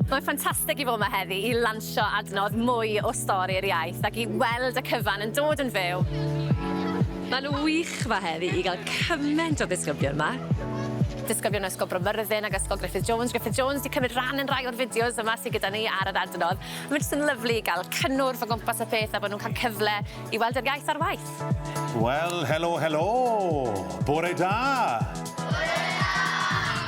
Mae'n ffantastig i fod yma heddi i lansio adnodd mwy o Stori'r Iaith ac i weld y cyfan yn dod yn fyw. Mae'n wych yma heddi i gael cyment o ddisgyblion yma. Disgyblion o Ysgol Bro Myrddin ac Ysgol Griffith Jones, Griffith Jones, wedi cymryd rhan yn rhai o'r fideos yma sydd gyda ni ar yr adnodd. Mae jyst yn lyfli i gael cynnwrf o gwmpas y peth a bod nhw'n cael cyfle I weld yr iaith ar waith. Wel, helo, helo! Bore da! Bore da!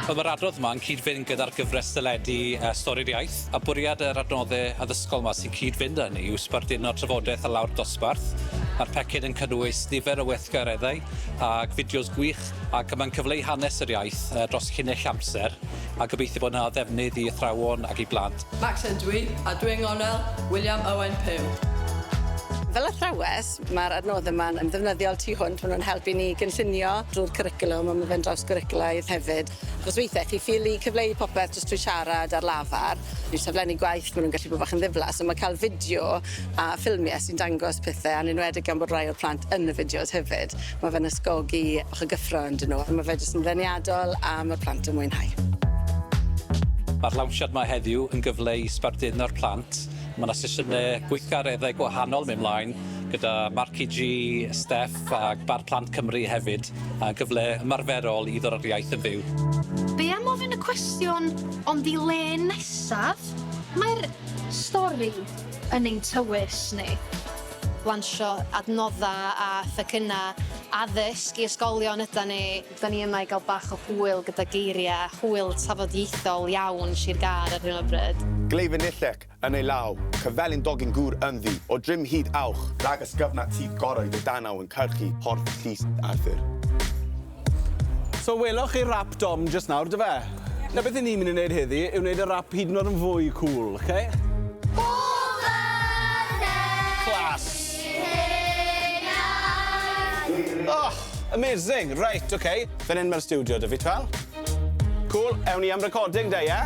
Wel, mae'r adrodd yma yn cyd-fynd gyda'r gyfres deledu uh, Stori'r Iaith, a bwriad yr adnoddau addysgol yma sy'n cyd-fynd â hynny yw sbarduno trafodaeth a lawr dosbarth. Mae'r pecyn yn cynnwys nifer o weithgareddau ac fideos gwych ac mae'n cyfleu hanes yr iaith uh, dros llinell amser a gobeithio bod yna ddefnydd i athrawon ac i blant. Max ydw i, a dw i'n Nghornel, William Owen Pugh. Fel athrawes, mae'r adnoddau yma'n yn ddefnyddiol tu hwnt, maen nhw'n helpu ni i gynllunio drwy'r cwricwlwm, ond mae fe'n drawsgwricwlaidd hefyd. Achos weithiau chi ffili cyfleu popeth jyst trwy siarad ar lafar, neu saflenni gwaith, maen nhw'n gallu bod bach yn ddiflas, ond mae cael fideo a ffilmiau sy'n dangos pethau, yn enwedig gan bod rai o'r plant yn y fideos hefyd, mae fe'n ysgogi bach o gyffro ynddyn nhw a mae fe jyst yn ddeniadol a mae'r plant yn mwynhau. Mae'r lawnsiad 'ma heddiw yn gyfle i sbarduno'r plant. Mae 'na sesiynau gweithgareddau gwahanol mynd mlaen gyda Marci G, Steff a Bar Plant Cymru hefyd, a gyfle ymarferol i ddod â'r iaith yn fyw. Be am ofyn y cwestiwn, ond i le nesaf? Mae'r stori yn ein tywys ni. lansio adnoddau a phecynnau addysg i ysgolion ydan ni. Dan ni yma i gael bach o hwyl gyda geiriau hwyl tafodieithol iawn Sir Gâr ar hyn o bryd. Gleifion Nillec yn ei law, cyfelin dogyn gŵr ynddi, o drim hyd awch. Rhag ysgyfnad syth goroedd y danaw yn cyrchu Porth Llys Arthur. So weloch chi rap Dom just nawr, do fe? Na beth i ni'n mynd i wneud heddi yw wneud y rap hyd yn oed yn fwy cool, oce? Okay? Amazing, right, ok. Fan hyn mae'r studio da fi, twel. Cool, ewn ni am recording da, ie?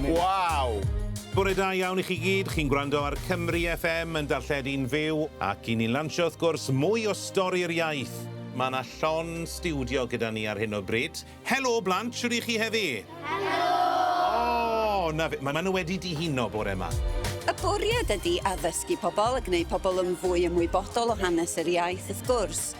Wow! Bore da iawn i chi gyd, chi'n gwrando ar Cymru FM yn darlledu'n fyw ac i ni'n lansio wrth gwrs mwy o Stori'r Iaith. Mae 'na llon stiwdio gyda ni ar hyn o bryd. Helo blant, shwd 'y chi heddi? Helo! O! 'na fe, ma' ma' nhw wedi dihuno bore 'ma. Y bwriad ydi addysgu pobl a gneud pobl yn fwy ymwybodol o hanes yr iaith wrth gwrs.